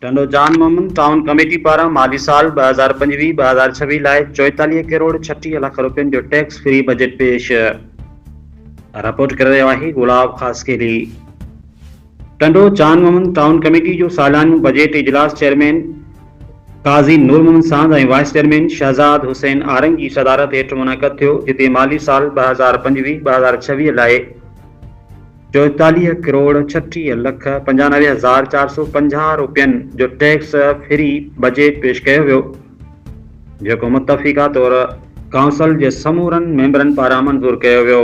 Tando Jan Muhammad town committee پاران مالي سال ٻه هزار پنجويهه ٻه هزار ڇويهه لاء چوئيتاليهه ڪروڙ ڇٽيهه لک رپين جو ٽيڪس فري بجيٽ پيش، رپورٽ ڪري رهيو آهي گلاب خاصخيلي. ٽنڊو جان محمد ٽائون ڪميٽي جو ساليانو بجيٽ اجلاس chairman Qazi Noor Muhammad Sand ۽ vice chairman Shahzad Hussain Arang جي صدارت هيٺ منعقد ٿيو جتي مالي سال ٻه هزار پنجويهه ٻه هزار ڇويهه لاء چوئيتاليهه ڪروڙ ڇٽيهه لک پنجانوي هزار چار سؤ پنجاهه روپين جو ٽيڪس فري بجيٽ پيش ڪيو ويو جيڪو متفقه طور ڪائونسل جي سمورن ميمبرن پاران منظور ڪيو ويو.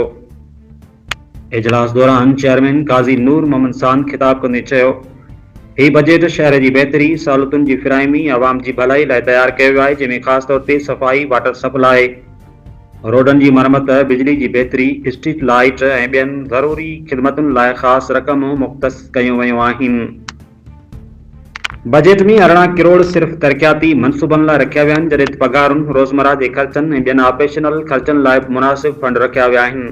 اجلاس دوران چيئرمين قاضي نور محمد ساند خطاب ڪندي چيو هي بجيٽ شهر جي بهتري، سهولتن جي فراهمي، عوام جي ڀلائي لاء تيار ڪيو ويو آهي جنهن ۾ خاص طور تي صفائي، واٽر سپلاء، روڊن جي مرمت، بجلي جي بهتري، اسٽريٽ لائيٽ ۽ ٻين ضروري خدمتن لاء خاص رقمون مختص ڪيون ويون آهن. بجيٽ ۾ ارڙهن ڪروڙ صرف ترقياتي منصوبن لاء رکيا ويا آهن، جڏهن ته پگهارن، روزمره جي خرچن ۽ ٻين آپريشنل خرچن لاء به مناسب فنڊ رکيا ويا آهن.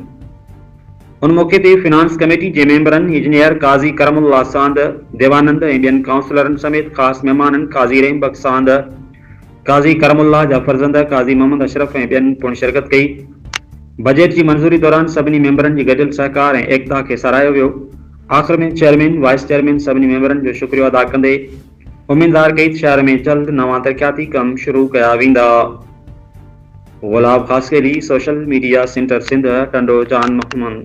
ان موقعي تي فنانس ڪميٽي جي ميمبرن انجنيئر قاضي ڪرم الله ساند، ديوانند ۽ ٻين ڪائونسلرن سميت خاص مهمانن قاضي رحيم بخش ساند، قاضي ڪرم الله جا فرزند قاضي محمد اشرف ۽ ٻين پڻ شرڪت ڪئي. بجيٽ جي منظوري دوران سڀني ميمبرن جي گڏيل سهڪار ۽ ايڪتا کي ساراهيو ويو. آخر ۾ چيئرمين، وائيس چيئرمين سڀني ميمبرن جو شڪريو ادا ڪندي اميد ظاهر ڪئي ته شهر ۾ جلد نوان ترقياتي ڪم شروع ڪيا ويندا. Gulab Khaskheli, social media centre Sindh, Tando Jan Muhammad.